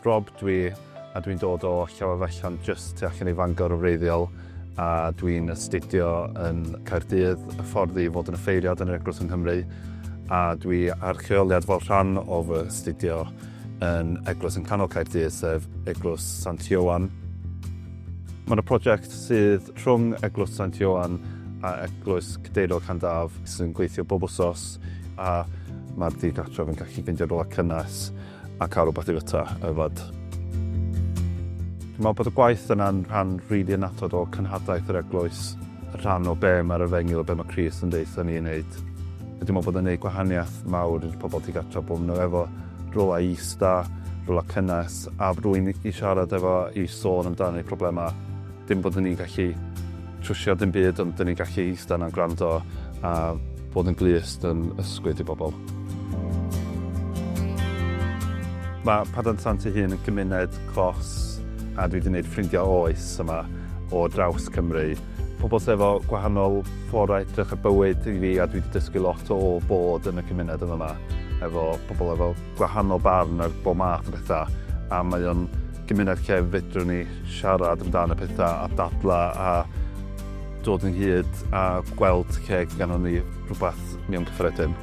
Rob dwi a dwi'n dod o Llawefallan jyst tu allan i Fangor yn wreiddiol a dwi'n astudio yn Caerdydd y ffordd i fod yn ffeiriad yn yr Eglwys yng Nghymru a dwi ar lleoliad fel rhan o fy astudio yn Eglwys yn canol Caerdydd sef Eglwys Sant Ioan. Mae yna prosiect sydd rhwng Eglwys Sant Ioan a Eglwys Cadeirog Llandaf sy'n gweithio bob wsos a mae'r digartref yn gallu ffeindio rhywle cynnes a cael rhywbeth i fyta a yfed. Dwi'n meddwl bod y gwaith yna'n rhan rili really annatod o cenhadaeth yr Eglwys, rhan o be mae'r efengyl, be mae Crist yn deutha ni i wneud. Dwi'n meddwl bod o'n gwneud gwahaniaeth mawr i'r pobl tu gartref bod nhw efo rywle i ista, rywle cynnes a rywun i siarad efo i sôn amdan eu problemau. Dim bod ni'n gallu trwsio dim byd ond dan ni'n gallu ista yna gwrando a bod yn glust yn ysgwyd i bobl. Mae Padarn Sant ei hun yn gymuned clos a dwi 'di 'neud ffrindiau oes yma o draws Cymru. Pobl sy efo gwahanol ffordd o edrych ar bywyd i fi a dwi 'di dysgu lot o bod yn y cymuned yn fama efo pobl efo gwahanol barn ar bob math o betha a mae o'n gymuned lle fedrwn ni siarad amdan y petha a dadla a dod ynghyd a gweld lle ganddon ni rwbath mewn cyffredin.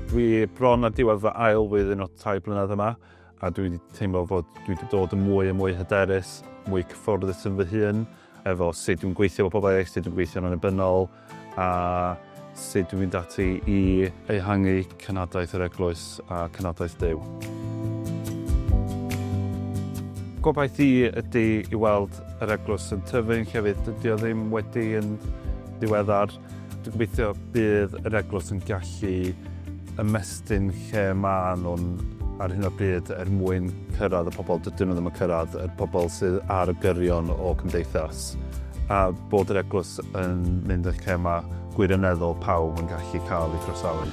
Dwi bron ar diwedd fy ail flwyddyn o tair blynedd yma. a dwi 'di teimlo fod dwi 'di dod yn mwy a mwy hyderus, mwy cyfforddus yn fy hun, efo sut dwi'n gweithio efo pobl eraill, sut dwi'n gweithio'n annibynnol, a sut dwi'n mynd ati i ehangu cenhadaeth yr Eglwys a cenhadaeth Duw. Gobaith i ydy i weld yr Eglwys yn tyfu'n llefydd dydy o ddim wedi yn ddiweddar. Dwi'n gobeithio bydd yr eglwys yn gallu ymestyn lle maen nhw'n ar hyn o bryd er mwyn cyrraedd y pobl dydyn nhw ddim yn cyrraedd, y pobl sydd ar y gyrion o cymdeithas, a bod yr eglwys yn mynd yn lle mae gwirioneddol pawb yn gallu cael ei groesawu.